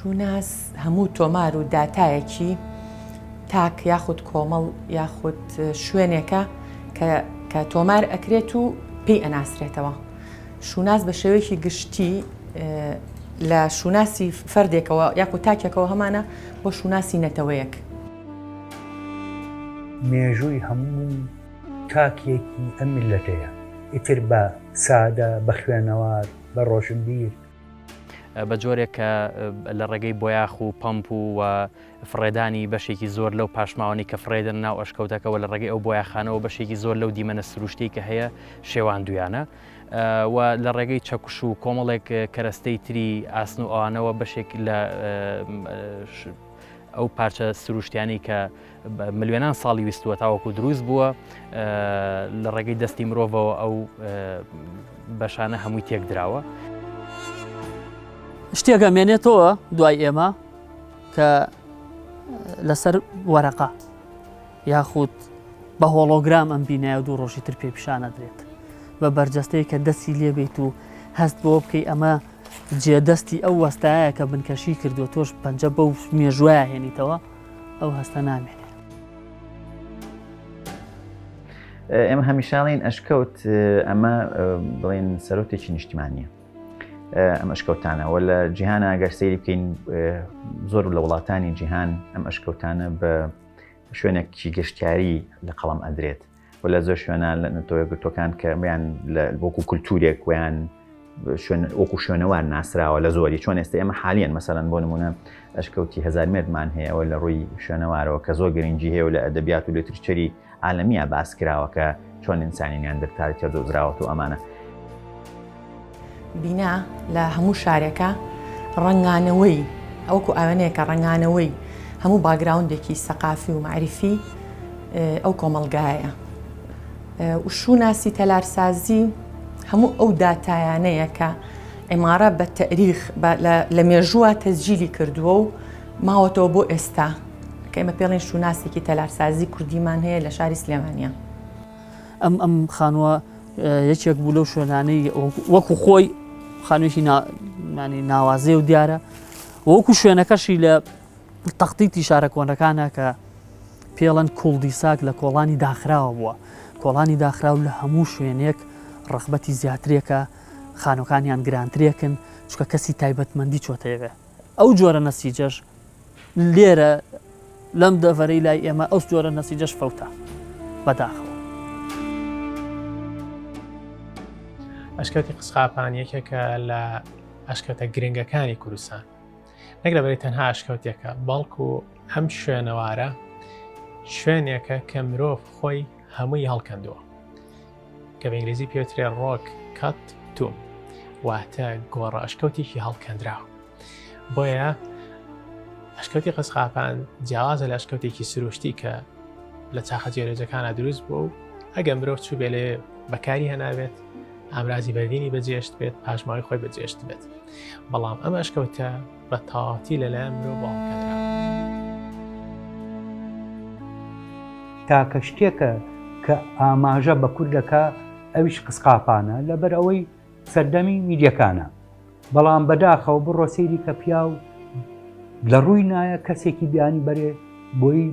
شوناس هەموو تۆمار و داتایەکی تاک یاخود کۆمەڵ یاخود شوێنێکە کە تۆمار ئەکرێت و پێی ئەناسرێتەوە شوناس بە شێوەیەکی گشتی لە شوناسی فەردێکەوە یاخود تاکێکەوە هەمانە بۆ شوناسی نەتەوەیەک مێژووی هەموو تاکێکی ئەم میللەتەیە. ئیتر بە سادە، بە خوێنەوار، بە ڕۆشنبیر. بە جۆرێک کە لە ڕێگەی بۆیاخ و پەمپ و و فڕێدانی بەشێکی زۆر لەو پاشماوانەی کە فڕێدەن ناو ئەشکەوتەکەەوە لە ڕێگەی ئەو بۆیاخانەوە بەشێکی زۆر لەو دیمەنە سروشتی کە هەیە شێواندویانە و لە ڕێگەی چەکوش و کۆمەڵێک کەرەستەی تری ئاسن و ئەوانەوە بەشێک لە ئەو پارچە سروشتیانی کە ملیۆنان ساڵی ویستووە تاوەکو دروست بووە لە ڕێگەی دەستی مرۆڤەوە ئەو بەشانە هەمووی تێک دراوە شتێکە مێنێتەوە دوای ئێمە کە لەسەر وەرەقا یاخود بە هۆڵۆگرام ئەم بینایە دوو ڕۆژی تر پێ پیشانەدرێت بە بەرجەستەیە کە دەستی لێبیت و هەست بۆ بکەی ئەمە جێدەستی ئەو وەستایە کە بنکەشی کردو تۆش پەنجە بەو مێژوایە هێنیتەوە ئەو هەستە نامێنێ. ئێمە هەمیشاڵین ئەشکەوت ئەمە بڵێن سەرۆتێکی نیشتیمانە ئەم ئەشکەوتانەوە لە جیهانە گەر سەیری بکەین زۆر لە وڵاتانی جیهان ئەم ئەشکەوتانە بە شوێنێکی گەشتیاری لە قەڵم ئەدرێت و لە زۆر شوێنان لە نەتەوە گرتوەکان کە میان بۆکو کولتورێک ویان وەکو شوێنەوار ناسراوە لە زۆری چۆن ئێستا ئێمە حالیان مەسەرەن بۆ نمونە ئەشکەوتی هزار مێردمان هەیەەوە لە ڕووی شوێنەوارەوە کە زۆر گرنگجی هەیە لە ئەدەبیات و لێترچەری عالمیە باسکراوەکە چۆن ئینسانی نیاندرتال تێ دۆزراوەت و ئەمانە بینا لە هەموو شارێکە ڕەنگانەوەی ئەوکو ئاوێنەیەکە ڕەنگانەوەی هەموو باگراوندێکی سەقافی و معریفی ئەو کۆمەلگایە وشوناسی تەلارسازی هەموو ئەو داتایانەیە کە عمارە بە تەریخ لە مێژووە تەزجیلی کردووە و ماوەتەوە بۆ ئێستا کە ئمە پێڵین شوناسێکی تەلارسازی کوردیمان هەیە لە شاری سلێمانە ئەم ئەم خانووە یەکێک بوو لەو شوێنانەی وەکو خۆی خانوێکی ناوازێ و دیارە وەکو شوێنەکەشی لە تەختیتی شارە کۆنەکانە کە پێڵەن کوڵدی ساک لە کۆڵانی داخراوە بووە کۆڵانی داخراو لە هەموو شوێنێک ڕەخبەتی زیاترێکە خانەکانیان گرانترێکن چکە کەسی تایبەتمەندی چۆتەیەوێ ئەو جۆرە نەسیجەش لێرە لەم دەڤەرەی لای ئێمە ئەو جۆرە نەسیجەش فەوتا بەداخەوە ئەشکەوتی قسقاپان یەکێکە لە ئەشکەوتە گرنگەکانی کوردستان نەک لەبەری تەنها ئەشکەوتێکە بەڵکو ئەم شوێنەوارە شوێنێکە کە مرۆڤ خۆی هەمووی هەڵکەندووە کە بە ئینگلیزی پێوترێ ڕۆک کات توم واتە گۆڕە ئەشکەوتێکی هەڵکەندراوە بۆیە ئەشکەوتی قەسقاپان جیاوازە لە ئەشکەوتێکی سروشتی کە لە چاخە جێرەجەکانە دروست بوو و ئەگەم برۆ چوو بێ لێ بەکاری هەناوێت ئامرازی بەردینی بەجێشت بێت پاشماوی خۆی بەجێشت بێت بەڵام ئەم ئەشکەوتە بە تاواتی لە لایەن مرۆڤەوە هەڵکەندراوە. تاکە شتێکە کە ئاماژە بە کورد دەکا ئەویش قسقاپانە لەبەر ئەوەی سەردەمی میدیەکانە بەڵام بەداخەوە بڕۆ سەیری کە پیاو لە ڕووی نایە کەسێکی بیانی بەرێ بۆی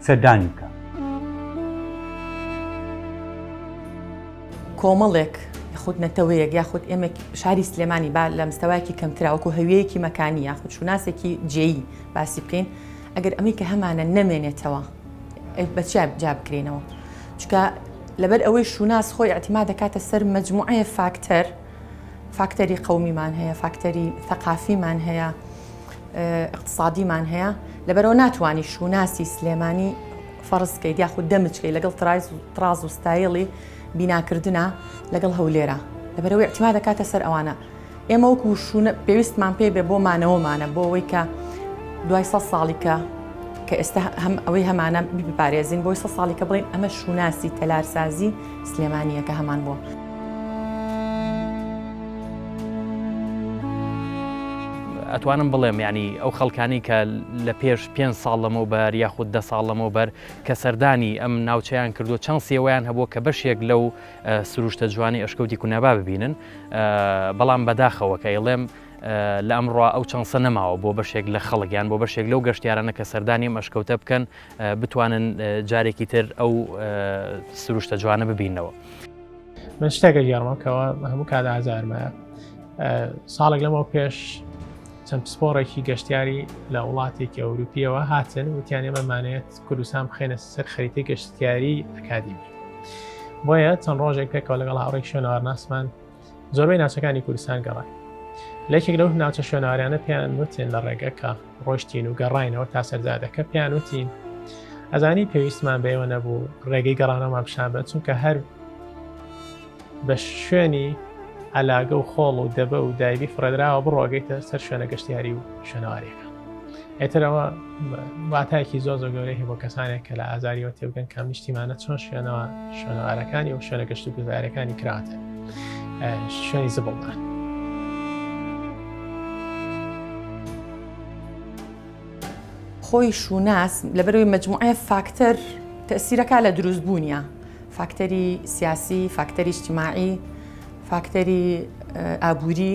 سەردانی بکە. کۆمەڵێک یخود نەتەوەیەک یاخود ئێمە شاری سلێمانی با لە مستەواکی کەمتراوەکو هەویەیەکی مەکانی یاخود شوناسێکی جێی باسی بکەین ئەگەر ئەمەی کە هەمانە نەمێنێتەوە بەچیا جا بکرینەوە چکە لەبەر ئەوەی شوناس خۆی ئەتیما دەکاتە سەر مجموعەیە فاکتەر فاکتەری قومیمان هەیە فاکتەری ثقافیمان هەیە ئیقتسادیمان هەیە لەبەرەوە ناتوانی شوناسی سلێمانی فەڕزکەیت یاخود دەمچکەی لەگەڵ ترازتراز و ستایڵی بیناکردە لەگەڵ هەولێرە لەبەرەوەی ئەتیما دەکاتە سەر ئەوانە ئێمە وەکو شوونە پێویستمان پێ بێ بۆ مانەوەمانە بۆ ئەوەی کە دوای سە ساڵیکە کە ئێستا هەم ئەوەی هەمانە بپارێزین بۆی سە ساڵیکە بڵین ئەمە شوناسی تەلارسازی سلێمانییەکە هەمان بووە. ئەتوانم بڵێم یعنی ئەو خەڵکانی کە لە پێش پێ ساڵ لەمەو بەر یاخود دە ساڵ لەمەو بەر کە سەردانی ئەم ناوچەیان کردو چەند سێوەیان هەبووە کە بەشێک لەو سروشتە جوانی ئەشکەوتی کونابا ببینن بەڵام بەداخەوە کە ئەڵێم لە ئەمڕوا ئەو چەنسە نەماوە بۆ بەشێک لە خەڵگیان بۆ بەشێک لەو گەشتیارانە کە سەردانیم ئەشکەوتە بکەن بتوانن جارێکی تر ئەو سروشتە جوانە ببینەوە. من شتێکە گێڕمە کەەوە هەموو کات ئازارمە ساڵێک لەمەوە پێش چەند پسپۆڕێکی گەشتیاری لە وڵاتێکی ئەوروپیەوە هاتن وتیان ئێمە مانێت کوردستان بخێنە سەر خەریتی گەشتیاری ئەکادیمی بۆیە چەند ڕۆژێک پێکەوە لەگەڵ هاوڕێک شوێنەوارناسمان زۆربەی ناچەکانی کوردستان گەڕای لەکێک لەو ناچە شوێناریانە پێیان وتین لە ڕێگەکە ڕۆشتین و گەڕینەوە تا سەرزادەکە پێیان وتین ئەزانی پێویستمان بەێوە نەبوو ڕێگەی گەڕانەوەمان پیشان بە چونکە هەر بە شوێنی ئەلاگە و خۆڵ و دەبە و دایبی فڕێدراوە بڕۆگەیتە سەر شوێنە گەشتیاری و شوێنەوارەکە ئێتر ئەوە واتایەکی زۆر زۆر گەورەی هەیە بۆ کەسانێک کە لە ئازاریەوە تێبگەن کە نیشتیمانە چۆن شوێنەوە شوێنەوارەکانی و شوێنە گەشت و گوزارەکانی کراتە شوێنی زبڵدان. خۆی شووناس لەبەرەوەی مجموعە فاکتەر تەسیرەکە لە دروست بوونیە فاکتەری سیاسی فاکتەری شتیماعی فاکتەری ئابووری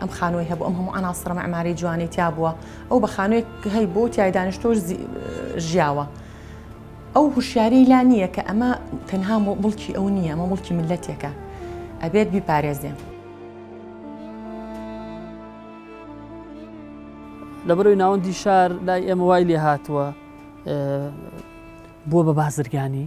ئەم خانووی هەبوو ئەم هەموو ئەناسڕە مەعماری جوانی تیا بووە ئەو بە خانوێک هەی بۆ تای دانیشتۆش ژیاوە ئەو هوشیاری لا نییە کە ئەمە تەنها مڵکی ئەو نییە ئەمە مڵکی ملەتێکە ئەبێت بیپارێزێ لەبەرەوەی ناوەندی شار لای ئێمە وای لێ هاتووە بووە بە بازرگانی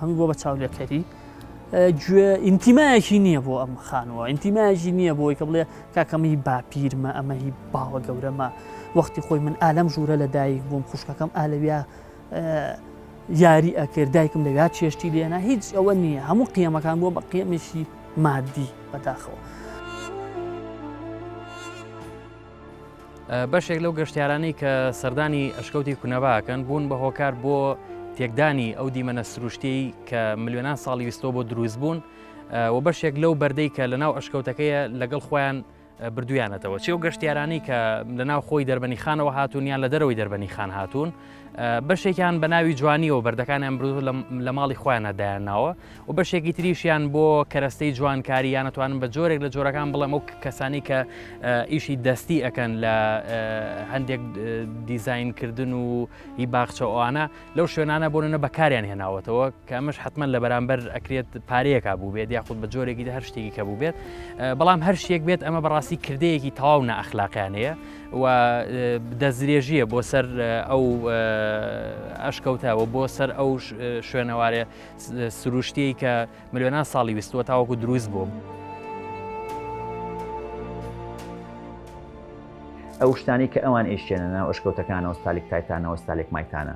هەمووی بۆ بە چاولێکەری گوێ ئینتیمایەکی نییە بۆ ئەم خانووە ئینتیمایەکی نییە بۆی کە بڵێ کاکەمەی باپیرمە ئەمە هی باوە گەورەمە وەختی خۆی من ئالەم ژوورە لە دایک بووم خوشکەکەم ئالەویا یاری ئەکرد دایکم لەویا چێشتی لێنا هیچ ئەوە نییە هەموو قیەمەکان بووە بە قیەمێکی مادی بەداخەوە. بەشێک لەو گەشتیارانەی کە سەردانی ئەشکەوتی کونەباکەن بوون بە هۆکار بۆ تێکدانی ئەو دیمەنە سروشتی کە ملیۆنان ساڵی ویستۆ بۆ دروست بوون و بەشێک لەو بەردەی کە لە ناو ئەشکەوتەکەیە لەگەڵ خۆیان بردویانەتەوە چی و گەشتیارانی کە لە ناو خۆی دەربەنی خانەوە هاتوونیان لە دەرەوەی دەربەنی خان هاتوون بەشێکیان بە ناوی جوانیەوە بەردەکانیان برو لە ماڵی خۆیانە دایانناوە و بەشێکی تریشیان بۆ کەرەستەی جوانکاری یانەتوانن بە جۆرێک لە جۆرەکان بڵێم ئەو کەسانی کە ئیشی دەستی ئەەکەن لە هەندێک دیزینکردن و هی باخچەوانە لەو شوێنانە بۆنە بەکاریان هێناوەتەوە کەمەش حتمما لە بەرامبەر ئەکرێت پارەیەکە بوو بێت یاخود بە جۆرێکی هەر شتێکی کە بوو بێت بەڵام هەر شتێک بێت ئەمە بەڕاستی کردەیەکی تەواو نە ئەخلاقیانەیە و دەستدرێژییە بۆ سەر ئەو ئەشکەوتەوە بۆ سەر ئەو شوێنەوارێ سروشتیی کە ملیۆنان ساڵی ویستوە تاوەکو دروست بووم. ئەو شتانی کە ئەوان ئیشێنە ناو ئەشکەوتەکانەوە ستالیک تایتانەوە ستالێک مایتانە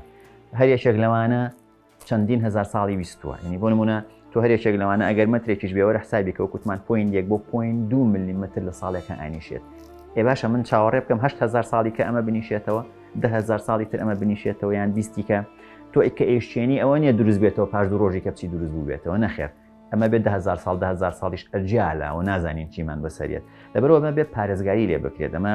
هەر یەکێک لەوانە چەندین هەزار ساڵی ویستووە ینی بۆ نمونە تۆ هەرێکێک لەوانە ئەگەر مەترێکیش بێوەرە حسابی کە وکوتمان پوین یەک بۆ پوین دو ملیمتر لە ساڵێکە ئاینیشێت ئێ باشە من چاوەڕێ بکەم هزار ساڵی کە ئەمە بنیشێتەوە دههزار ساڵی تر ئەمە بنیشێتەوە یان بیستیکە تۆ ئیکە ئێشتێنی ئەوە نیە دروست بێتەوە پاش دو ڕۆژی کەپچی دروست بوو بێتەوە نەخێر ئەمە بێت دههزار ساڵ دههزار ساڵیش ئەجیالە و نازانین چیمان بەسەرێت لەبەرەوە مە بێت پارێزگاری لێ بکرێت ئەمە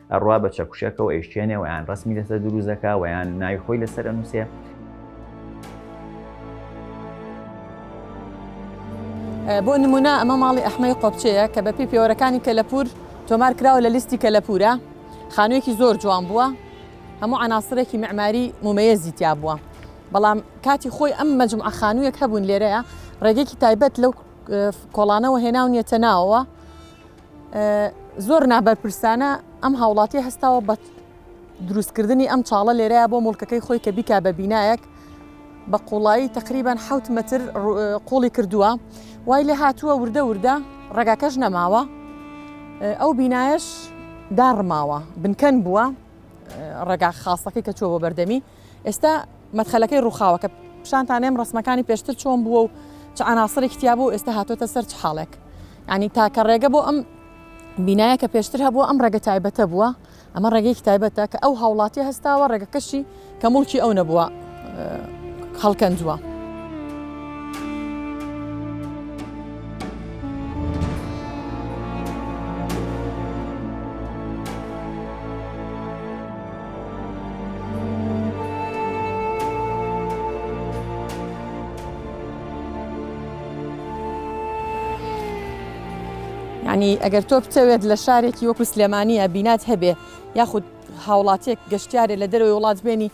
ئەڕوا بە چەکوشەکە و ئەیشکێنێ و یان ڕەسمی لەسەر دروست دەکا و یان ناوی خۆی لەسەر ئەنووسێ. بۆ نمونە ئەمە ماڵی ئەحمەی قۆپچەیە کە بەپی پێوەرەکانی کەلەپور تۆمار کراوە لە لیستی کەلەپورە خانوویەکی زۆر جوان بووە هەموو عناسرێکی معماری مومەیەزی تیا بووە بەڵام کاتی خۆی ئەم مەجمع خانوویەک هەبوون لێرەیە ڕێگەێکی تایبەت لەو کۆڵانەوە هێناونیەتە ناوەوە زۆر نابەرپرسانە ئەم هاوڵاتیە هەستاوە بە دروستکردنی ئەم چاڵە لێرەیە بۆ مڵکەکەی خۆی کە بیکا بە بینایەک بە قوڵایی تقریبان حوت متر قوڵی کردووە وای لێ هاتووە وردە وردە ڕێگاکەش نەماوە ئەو بینایش داڕماوە بنکەن بووە ڕێگا خاستەکەی کە چوە بۆ بەردەمی ئێستا مەدخەلەکەی ڕووخاوەکە پیشانتانێم ڕسمەکانی پێشتر چۆن بووە و چ عناصرێکی تیا بوو ئێستا هاتۆتە سەر چ حاڵێک ینی تاکە ڕێگە بۆ ئەم بینایە کە پێشتر هەبووە ئەم ڕێگە تایبەتە بووە ئەمە ڕێگەیەکی تایبەتە کە ئەو هاوڵاتی هەستاوە ڕێگەکەشی کە مڵکی ئەو نەبووە خەڵکەندووە. یعنی ئەگەر تۆ بتەوێت لە شارێکی وەکو سلێمانیە بینات هەبێ یاخود هاوڵاتێک گەشتارێ لە دەرەوەی وڵات بێنی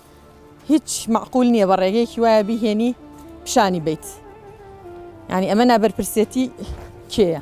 هیچ معقول نییە بە ڕێگەیەکی وایە بهێنی پیشانی بیت ینی ئەمە نابەرپرسێتی کێە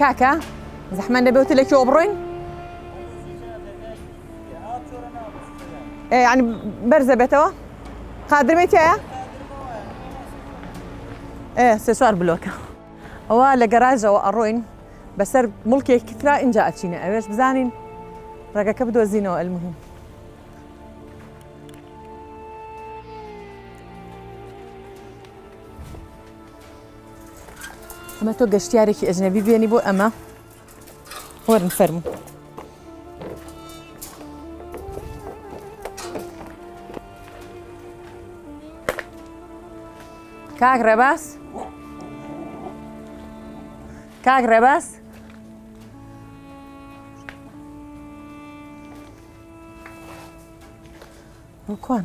کاکە زەحمە نەبێ وتە لە کێوە بڕۆین ینی بەرزە بێتەوە قادرمێتیایە سێ چوار بلۆکە ئەوە لە گەراجەوە ئەڕۆین بەسەر مڵکێکی تررا اینجا ئەچینە ئەوێش بزانین ڕێگەکە بدۆزینەوە ئەلمهم ئەمە تۆ گەشتیارێکی ئەجنەبی بێنی بۆ ئەمە وەرن فەرمو کاک ڕێباس کاک ڕێباس کوان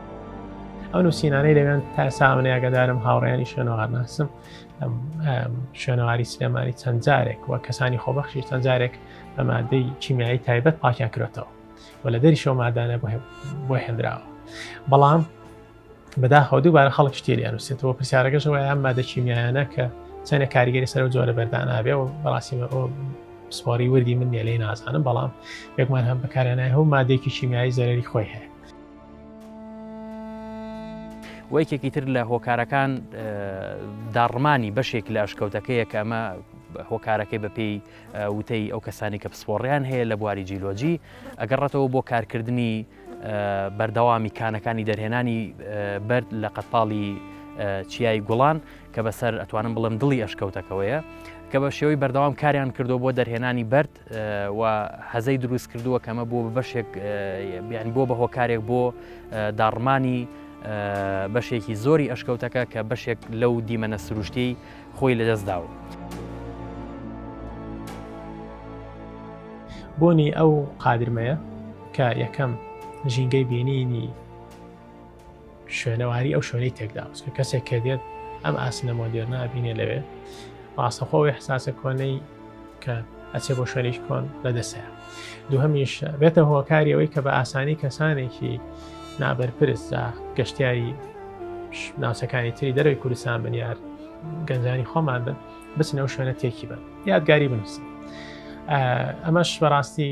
ئەو نووسینانەی لەوێن تا سامنەیەگەدارم هاوڕێیانی شوێنەوار ناسم شوێنەواری سلێمانی چەند جارێک وە کەسانی خۆبەخشی چەند جارێک بە مادەی کیمیایی تایبەت پاکیان کرێتەوە و لە دەری شەو مادانە بۆ هێنراوە بەڵام بەداخەوە دووبارە خەڵک شتێریان وسێتەوە پرسیارەکەشەوە یان مادە کیمیایانە کە چەنە کاریگەری سەر و جۆرە بەردانابێ و بەڕاستی سپۆری وردی من نێلەی نازانم بەڵام یەکمان هەم بەکارێنای هەو مادێکی کیمیایی زەرری خۆی هەیە و یەکێکی تر لە هۆکارەکان داڕمانی بەشێک لە ئەشکەوتەکەیە کە ئەمە هۆکارەکەی بەپێی وتەی ئەو کەسانی کە پسپۆڕیان هەیە لە بواری جیلۆجی ئەگەڕێتەوە بۆ کارکردنی بەردەوامی کانەکانی دەرهێنانی بەرد لە قەتپاڵی چیای گوڵان کە بەسەر ئەتوانم بڵم دڵی ئەشکەوتەکەوەیە کە بە شێوەی بەردەوام کاریان کردو بۆ دەرهێنانی بەرد دەکات و هەزەی دروست کردووە کەمە بۆ بەشێک بیان بۆ بە هۆکارێک بۆ داڕمانی بەشێکی زۆری ئەشکەوتەکە کە بەشێک لەو دیمەنە سروشتی خۆی لەدەستداوە. بۆنی ئەو قادرمەیە کە یەکەم ژینگەی بینینی شوێنەواری ئەو شوێنەی تێکداوس کە کەسێک کە دێت ئەم ئاسنە مۆدێرنا بینێ لەوێ ڕاستەخۆی حساسە کۆنەی کە ئەچێ بۆ شوێنیش کۆن لە دەسەیە دووهمیش بێتە هۆکاری ئەوەی کە بە ئاسانی کەسانێکی نابەرپرس گەشتیاری ناوچەکانی تری دەروی کوردستان بنیار گەنجانی خۆمان بن بچنەوە شوێنە تێکی بن یادگاری بنووسن ئەمەش بەڕاستی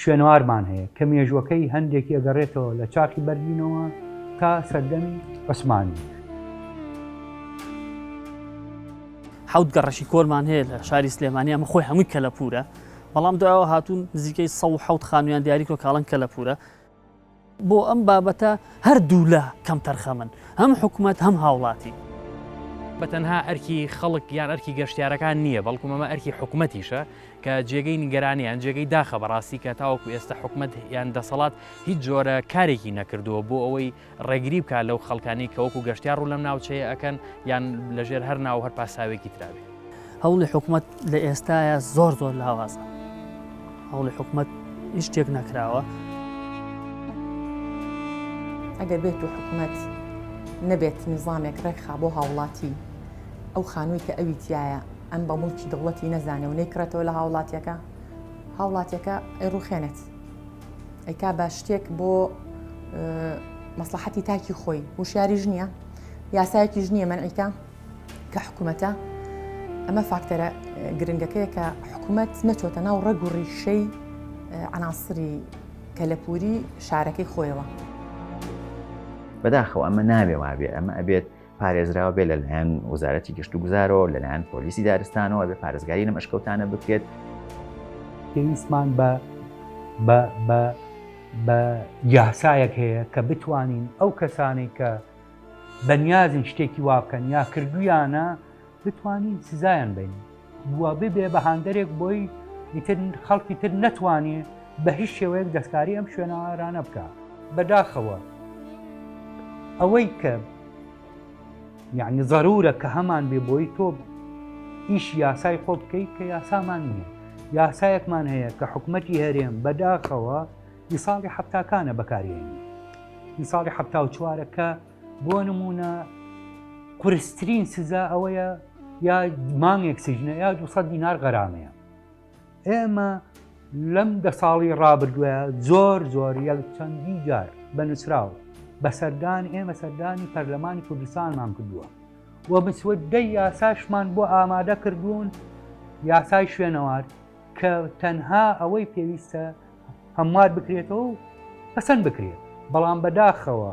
شوێنەوارمان هەیە کە مێژووەکەی هەندێکی ئەگەڕێتەوە لە چاخی بەرلینەوە تا سەردەمی عوسمانی. حەوت گەڕەکی کۆنمان هەیە لە شاری سلێمانی ئەمە خۆی هەمووی کەلەپورە بەڵام دوایەوە هاتوون نزیکەی 1 خانوویان دیاری کۆ کاڵن کەلەپورە بۆ ئەم بابەتە هەر دوولا کەمتەرخەمن، هەم حکومەت هەم هاوڵاتی. بە تەنها ئەرکی خەڵک یان ئەرکی گەشتیارەکان نییە، بەڵکو مەمە ئەرکی حکومەتیشە، کە جێگەی نیگەرانیە یان جێگەی داخە بەڕاستی کە تاوەکو ئێستا حکومەت یان دەسەڵات هیچ جۆرە کارێکی نەکردووە بۆ ئەوەی ڕێگری بکات لەو خەڵکانەی کە وەکو گەشتیار ڕوو لەم ناوچەیە ئەکەن یان لەژێر هەر ناو هەر پاساوێکی ترا بێت. هەوڵی حکومەت لە ئێستاە زۆر زۆر لاوازە هەوڵی حکومەت هیچ شتێک نەکراوە ئەگەر بێت و حکومەت نەبێت نیزامێک ڕێکخا بۆ هاوڵاتی ئەو خانووی کە ئەوی تایە ئەم بە مڵکی دەوڵەتی نەزانێ و نەیکڕێتەوە لە هاوڵاتیەکە هاوڵاتیەکە ئەی ڕوخێنێت ئەی کا بە شتێک بۆ مەسلحەتی تاکی خۆی وشیاریش نییە یاسایەکیش نییە منعیکە کە حکوومەتە ئەمە فاکتەرە گرنگەکەیە کە حکوومەت نەچۆتە ناو ڕەگ و ڕیشەی عناسری کەلەپوری شارەکەی خۆیەوە بەداخەوە ئەمە ناوێ وابێ ئەمە ئەبێت پارێزراو بێ لەلایەن وەزارەتی گەشت و گوزارەوە لەلایەن پۆلیسی دارستانەوە بێ پارێزگاری لەم ئەشکەوتانە بکرێت پێویستمان بە بە بە یاسایەک هەیە کە بتوانین ئەو کەسانی کە بەنیازن شتێکی وا بکەن یا کردویانە بتوانین سزایان بین بووە ببێ بە هاندەرێک بۆی ئیتر خەڵکی تر نەتوانێ بە هیچ شێوەیەک دەستکاری ئەم شوێنەوارانە بکە بەداخەوە ئەوەی کە یعنی ضرورە کە هەمان بێ بۆی تۆ ئیش یاسای خۆ بکەیت کە یاسامان نییە یاسایەکمان هەیە کە حکوومەتتی هەرێم بەداخەوە ئیساڵی حفتاکانە بەکارێنی ئیساڵی حفتا و چوارەکە بۆ نمونە قورسترین سزا ئەوەیە یا مانگێک سجنە یا 200 دینار غەرامەیە ئێمە لەم دە ساڵی ڕابردووە زۆر زۆر یەک چەندی جار بە نووسراو بە سەردان ئێمە سەردانی پەرلەمانی کوردستانمان کردووە و مسوددەی یاساشمان بۆ ئامادە کردوون یاسای شوێنەوار کە تەنها ئەوەی پێویستە هەموار بکرێتەوە و پەسەند بکرێت بەڵام بەداخەوە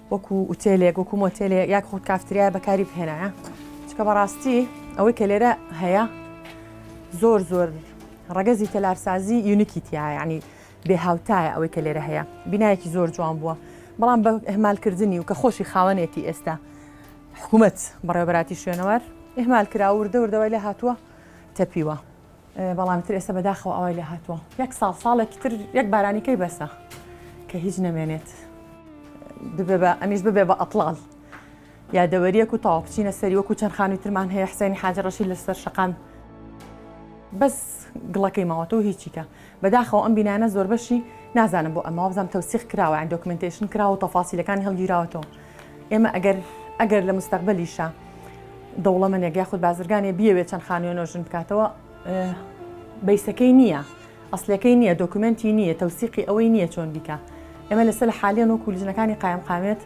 وەکو ئوتێلێک وەکو مۆتێلێ یاک خۆت کافتریای بەکاری بهێنایە چکە بەڕاستی ئەوەی کە لێرە هەیە زۆر زۆر ڕەگەزی تەلارسازی یونیکی تیایانی بێ هاوتایە ئەوەی کە لێرە هەیە بینایەکی زۆر جوان بووە بەڵام بە ئەهمالکردنی و کە خۆشی خاوەنێتی ئێستا حکوومەت بەڕێوەبەتی شوێنەوار ئهمال کرا وردە وردەوای لە هاتووە تەپیوە بەڵام تر ئێستا بەداخەوە ئاوای لێ هاتووە یەک ساڵ ساڵێکی تر یەک بارانی کەی بەسە کە هیچ نەمێنێت ببێ بە ئەمیش ببێ بە ئەتڵال یادەوەریەک و تاوا بچینە سەری وەکو چەند خانووی ترمان هەیە حسێنی حاجە ڕەشی لەسەر شقام بەس گڵەکەی ماوەتەوە هیچیکە بەداخەوە ئەم بینانە زۆر بەشی نازانم بۆ ئەمە بزانام تەوسیق کراوە ئەندۆکمنتشن کراوە تەفاسیلەکانی هەڵگیراوەتەوە ئێمە ئەگەر ئەگەر لە مستەقبلیشە دەوڵەمەنێک یاخود بازرگانێ بیەوێت چەند خانوێ نۆژن بکاتەوە بیسەکەی نییە ئەسلەکەی نییە دۆکومنتی نییە تەوسیقی ئەوەی نییە چۆن بیکە ئێمە لەسەر لە حالیان وەکو لژنەکانی قایم قامێت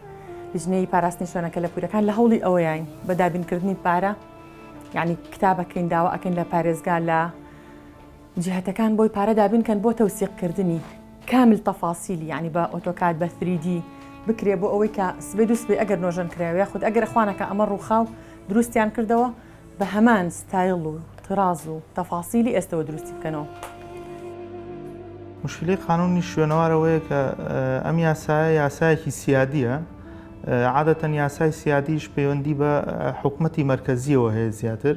لژنەی پاراستنی شوێنەکە لە پورەکان لە هەوڵی ئەوەیان بە دابینکردنی پارە یعنی کتابەکەین داوا ئەکەین لە پارێزگا لە جیهتەکان بۆی پارە دابین کەن بۆ تەوسیق کردنی کامل تەفاسیلی یانی بە ئۆتۆکاد بە ثری دی بکرێ بۆ ئەوەی کە سبەی دوو سبەی ئەگەر نۆژەن کراوی یاخود ئەگەر ئەخوانەکە ئەمە ڕووخاو دروستیان کردەوە بە هەمان ستایل و طراز و تەفاسیلی ئێستەوە دروستی بکەنەوە. مشکلەی قانونی شوێنەوار ئەوەیە کە ئەم یاسایە یاسایەکی سیادیە عادەتەن یاسای سیادیش پەیوەندی بە حکومەتی مەرکەزیەوە هەیە زیاتر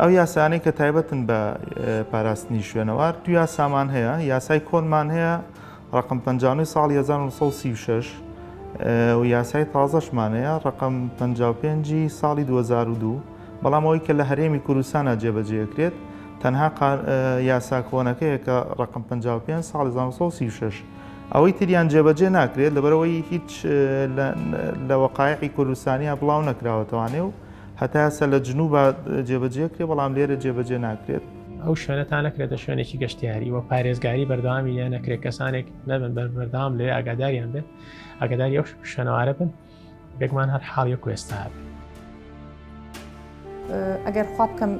ئەو یاسایانەی کە تایبەتن بە پاراستنی شوێنەوار دو یاسامان هەیە یاسای کۆنمان هەیە ڕقم پ ساڵی 1936 و یاسای تازەشمانەیە ڕقم پ ساڵی 2002 بەڵام ئەوی کە لە هەرێمی کوردستانە جێبەجێکرێت تەنها یاسا کۆنەکەیە کە ڕقم پ ساڵی 1936 ئەوەی تریان جێبەجێ ناکرێت لەبەرەوەی هیچ لە وەقاعی کوردستانیا بڵاو نەکراوەتەوانێ و هەتا ئێستا لە جنوبا جێبەجێ کرێ بەڵام لێرە جێبەجێ ناکرێت. ئەو شوێنە تا نەکرێتە شوێنێکی گەشتیاری و پارێزگاری بەردەوامی لێ نەکرێت کەسانێک نەبن بەر بەردەوام لێ ئاگاداریان بێت ئاگاداری ئەو شوێنەوارە بن بێگمان هەر حاڵ یەک کوێستا بێت. ئەگەر خوا بکەم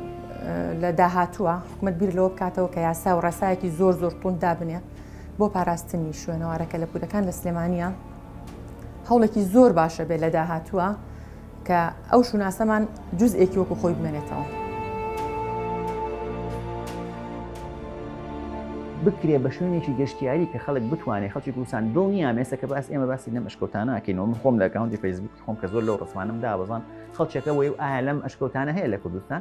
لە داهاتووە حکومت بیر لەوە بکاتەوە کە یاسا و ڕێسایەکی زۆر زۆر تون دابنێ بۆ پاراستنی شوێنەوارەکە لە پولەکان لە سلێمانە هەوڵێکی زۆر باشە بێت لە داهاتووە کە ئەو شوناسەمان جزئێکی وەکو خۆی بمێنێتەوە. بکرێ بە شوێنێکی گەشتیاری کە خەڵک بتوانێت خەڵکی کوردستان دڵ نیامێسە کە باس ئێمە باسی لەم ئەشکەوتانەکەینەوە من خۆم لە گاوندی فەیسبووکی خۆم کە زۆر لەو ڕسمانم دابزان خەڵچەکە وەی و ئایا لەم ئەشکەوتانە هەیە لە کوردستان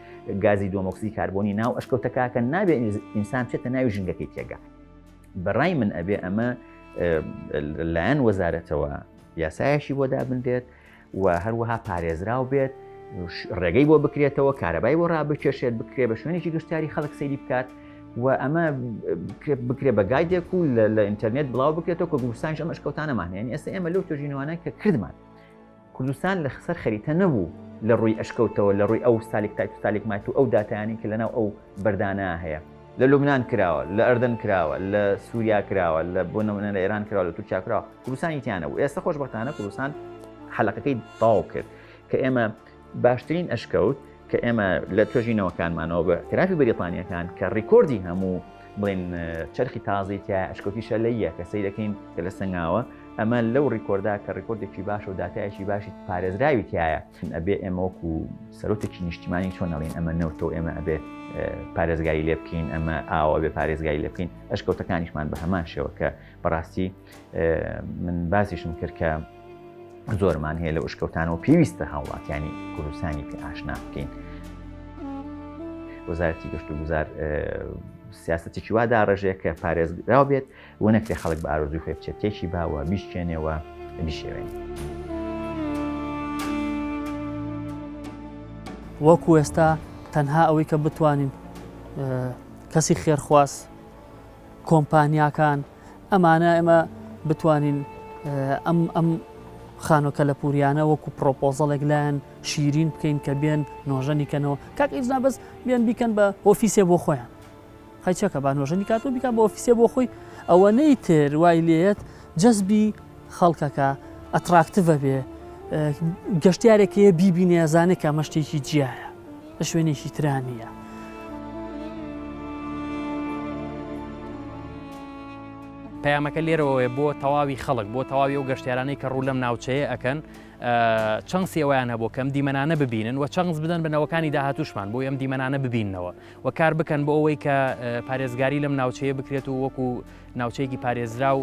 گازی دۆمۆکسی کاربۆنی ناو ئەشکەوتەکەکە نابێت ئینسان چێتە ناوی ژنگەکەی تێگە بەڕای من ئەبێ ئەمە لایەن وەزارەتەوە یاسایەکی بۆ دابنرێت و هەروەها پارێزراو بێت ڕێگەی بۆ بکرێتەوە کارەبای بۆ ڕابکێشێت بکرێ بە شوێنێکی گشتیاری خەڵک سەیری بکات و ئەمە بکرێ بە گایدێک و لە ئینتەرنێت بڵاو بکرێتەوە کە گوسانش ئەمەش کەوتانەمان هێن ئێستا ئێمە لەو تۆژینوانە کە کردمان کوردستان لە خسەر خەریتە نەبوو لە ڕووی ئەشکەوتەوە لە ڕووی ئەو سالیک تایت و سالیک مایت و ئەو داتایانی کە لەناو ئەو بەردانە هەیە. لە لوبنان کراوە، لە ئەردەن کراوە، لە سووریا کراوە، لە بۆ نموونە لە ئێران کراوە، لە تورکیا کراوە، کوردستانی تیا نەبوو. ئێستە خۆشبەختانە کوردستان حەلەقەکەی تەواو کرد کە ئێمە باشترین ئەشکەوت، کە ئێمە لە توێژینەوەکانمانەوە بە ئەکترافی بەریتانیەکان کە ڕیکۆردی هەموو بڵین چرخی تازی تیا ئەشکۆتی شەلەیە کە سەی دەکەین کە لە سنگاوە ئەمە لەو ڕیکۆردا کە ڕیکۆردێکی باش و دااتایەکی باشی پارێزراوی تایە ئەبێ ئێمەوەک و سەرۆتێکی نیشتیمانی چۆن نەڵین ئەمە نەوتۆ ئێمە ئەبێ پارێزگاری لێ بکەین ئەمە ئاوە بێ پارێزگاری لێ بکەین ئەشکەوتەکانیشمان بە هەمان شێوە کە بەڕاستی من باسیشم کرد کە زۆرمان هەیە لە ئوشکەوتانەوە پێویستە هاوڵاتیانی کوردستانی پێ ئاشنا بکەین وەزارەتی گەشت و گوزار سیاستێکی وا داڕێژەیە کە پارێزراو بێت و نەکرێ خەڵک بە ئارۆزوی خۆی بچێت تێکی باوە بیشکێنەوە بیشێوێن. وەکو ئێستا تەنها ئەوەی کە بتوانین کەسی خێرخواز کۆمپانیاکان ئەمانە ئێمە بتوانین ئەم ئەم خانۆ کەلەپوریانە وەکو پرۆپۆزەڵێک لایەن شیرین بکەین کە بێن نۆژەنی کەنەوە کاک ئیزنا بەس بێن بیکەن بە ئۆفیسێ بۆ خۆیان خەچەکە با نۆژەنی کاتۆ بیکە بە ئۆفیسێ بۆ خۆی ئەوە نەی تر وای لێت جەزبی خەڵکەکە ئەتراکتڤە بێ گەشتارێکەیە بیبینێزانێک کە مەشتێکی جیایە لە شوێنێکی ترا نییە. پەیامەکە لێرەوەێ بۆ تەواوی خەڵک بۆ تەواوی و گەشتیارانەی کە ڕوو لەم ناوچەیە ئەکەن چەنسی ئەویان هەبوو کەم دیمەنانە ببینن و چەنس بدەن بنەوەکانی داهاتوشمان بۆ ئەم دیمەنانە ببینەوە و کار بکەن بۆ ئەوەی کە پارێزگاری لەم ناوچەیە بکرێت و وەکو ناوچەیەکی پارێزرا و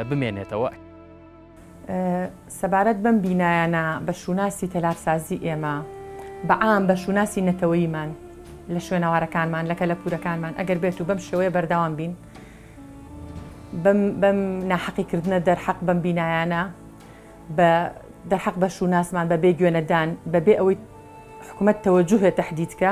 بمێنێتەوە. سەبارەت بەم بینایانە بە شووناسی تەلارسازی ئێمە بە عام بە شووناسی نەتەوەیمان لە شوێنەوارەکانمان لە کەلەپورەکانمان ئەگەر بێت و بەم شێوەیە بەرداوام بین بەم ناحەقیکردنە دەرحەق بەم بینایانە بە دەرحەق بە شووناسمان بە بێ گوێنەدان بە بێ ئەوەی حکوومەت تەوەجوهێ تهدیدکە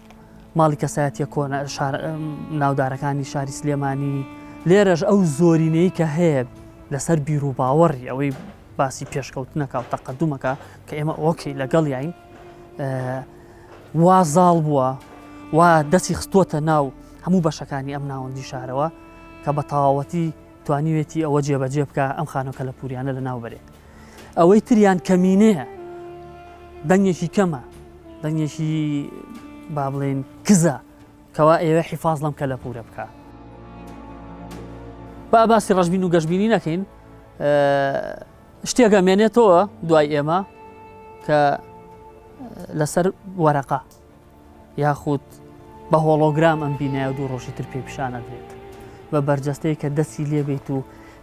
ماڵی کەسایەتیە کۆنە ناودارەکانی شاری سلێمانی لێرەش ئەو زۆرینەی کە هەیە لەسەر بیر و باوەڕی ئەوەی باسی پێشکەوتنەکە و تەقدمەکە کە ئێمە ئۆکەی لەگەڵ یاین وازاڵ بووە و دەچی خستووەتە ناو هەموو بەشەکانی ئەم ناوەندی شارەوە کە بە تەواوەتی توانیوێتی ئەوە جێبەجێ بکا ئەم خانۆ کەلەپوریانە لە ناو بەرێ ئەوەی تریان کەمینەیە دەنگێکی کەمە دەنگێکی با بڵێن کزە کەوا ئێوە حیفاز لەم کەلەپورە بکە با باسی ڕژبین و گەشببینی نەکەین شتێکە مێنێتەوە دوای ئێمە کە لەسەر وەرەقا یاخود بە هۆڵۆگرام ئەم بینایە دوو ڕۆژی تر پێی پیشانەدرێت بە بەرجەستەی کە دەستی لێبیت و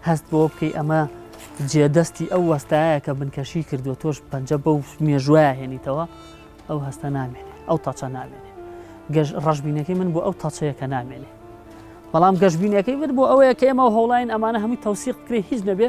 هەست بۆ بکەی ئەمە جێدەستی ئەو وەستایە کە بنکەشی کردو تۆش پەنجە بەو مێژوایە هێنیتەوە ئەو هەستە نامێنێ ئەو تاچە نامێنێ گەژ ڕژبینەکەی من بۆ ئەو تاچەیە کە نامێنێ بەڵام گەشببینەکەی من بۆ ئەوەیە کە ئێمە هەوڵین ئەمانە هەمووی تەوسیق بکرێ هیچ نەبێ